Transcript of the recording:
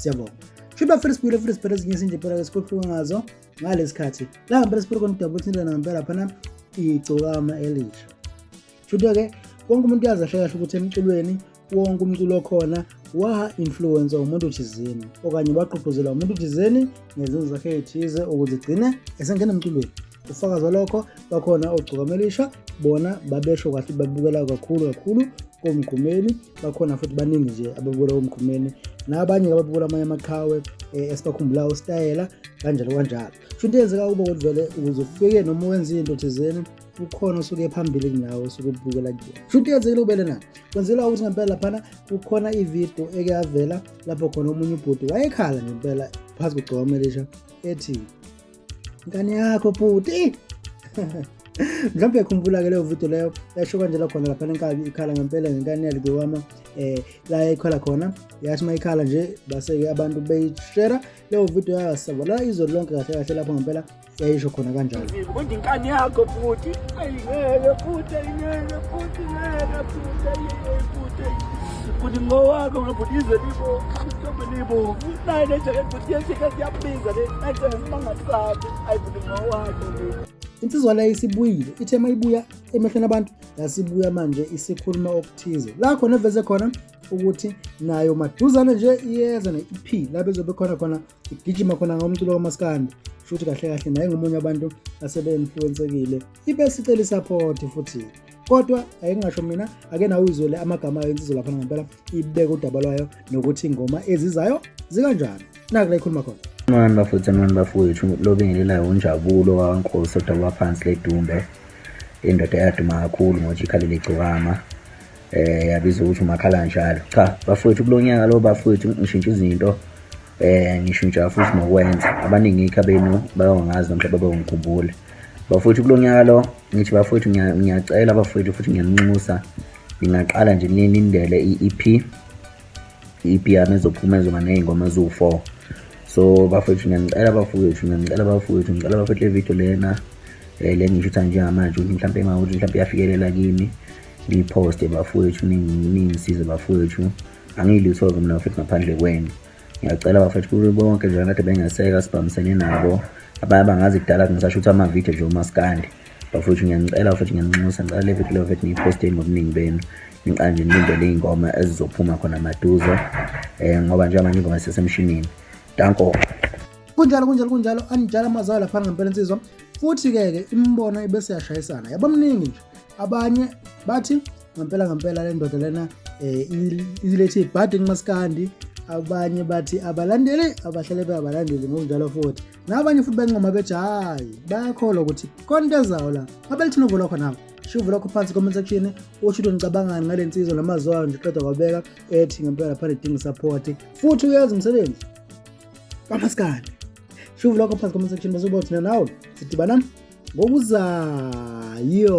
siyabonga shuthi bafela sibuyile futhi sibhele ezinye izinto impela-ke sikhohluke ngazo ngalesi khathi la ngempela sibhele khona udaba ukuthi indlela ngempela phana igcokama elisha shuthi-ke wonke umuntu uyazi ahle kahle ukuthi emculweni wonke umculo okhona wa-influwensa umuntu thizeni okanye wagqugquzela umuntu thizeni ngezenzo zakhe ey'thize ukuze igcine esengena emculweni ufakazi walokho bakhona ogcukamelisha bona babesho kahle babukela kakhulu kakhulu komgqumeni bakhona futhi baningi nje ababukela komgqumeni nabanye ababukela amanye amaqhawe eh, esibakhumbulayo usitayela kanjalo kanjalo sho into eyenzeka kubo ukuthi vele ukuze ufike noma wenze into thizeni ukhona osuke phambili kunawo osuke ubukela kuyona sho into yenzekile kubele na kwenzelwa ukuthi ngempela laphana kukhona ividiyo eke yavela lapho khona omunye ubhuti wayekhala ngempela phansi kugcokama elisha ethi ngane yakho bhuti mhlawumbe yakhumbula ke leyo video leyo yasho kanjela khona lapha lenkabi ikhala ngempela ngenkani yalike wama um eh, la yayikhala khona yasho uma ikhala nje base-ke abantu beyishera leyo video yasabalala izolo lonke kahle kahle lapho ngempela yayisho khona kanjalo kodwa inkani yakho futhi ayingeke futhi ayingeke futhi ngeke futhi ayingeke futhi futhi ngowakho ngabhuti izwe libo mhlawumbe libo nayile nje Insizwa leyo isibuyile ithe uma ibuya emehlweni abantu yasibuya manje isikhuluma okuthize la khona eveze khona ukuthi nayo maduzane nje iyeza ne-ep la bezobe khona khona igijima khona ngomculo kamaskandi shuthi kahle kahle naye ngomunye abantu asebeinfluensekile ibe sicela isapoti futhi kodwa ayingasho mina ake nawe uyizwele amagama ayo insizwa laphana ngempela ibeke udaba lwayo nokuthi ingoma ezizayo zikanjani nakula ikhuluma khona mani bafutha mani bafowethu lobingelelayo unjabulo wankosi odaba phansi ledumbe indoda eyaduma kakhulu ngothi ikhalile igcokama eh yabiza ukuthi umakhala njalo cha bafowethu kulonyaka lo bafowethu ngishintsha izinto eh ngishintsha futhi nokwenza abaningi ikha benu bayongazi nomhla babengikhumbule bafowethu kulonyaka lo ngithi bafowethu ngiyacela bafowethu futhi ngiyanunxusa ngingaqala nje nilindele i-EP i-EP yami ezophuma ezoba nezingoma eziwu-4 so bafowethu ngiyanicela bafowethu ngiyanicela bafowethu ngicela bafowethu le video lena um le ngishutha njengamanje ukuthi mhlawumpe mawukuthi mhlawumpe iyafikelela kimi ngiyiphoste bafowethu ningisize bafowethu angiyilutho-ke mina bafethu ngaphandle kwenu ngiyacela bafethu kube bonke nje kade bengeseka sibhamisene nabo abanye bangazi kudala ngisasho ukuthi amavidiyo nje umaskandi bafowethu ngiyanicela bafethu ngiyaninxusa ngicela le vidiyo bafethu niyiphosteni ngobuningi benu ngiqala nje nilindele iy'ngoma ezizophuma khona maduze um ngoba njengoba manje ingoma isesemshinini danko kunjalo kunjalo kunjalo anijala amazayo laphana ngempela insizwa futhi-ke ke imibono ibeseyashayisana yabamningi nje abanye bathi ngempela ngempela le ndoda lena um ilethe ibhadi kumasikandi abanye bathi abalandeli abahlale beabalandeli ngokunjalo futhi nabanye futhi bancoma bethi hhayi bayakholwa ukuthi khona into ezawo la abelithina uvulwa khonabo shuvu lokho phansi comment section usho ukuthi ngicabangani ngale nsizwa namaziwayo nje qeda kwabeka ethi ngempela lapha lidinga support futhi uyazi umsebenzi kamasikane shuvu lokho phansi comment section basukuba thina nawe sidibana ngokuzayo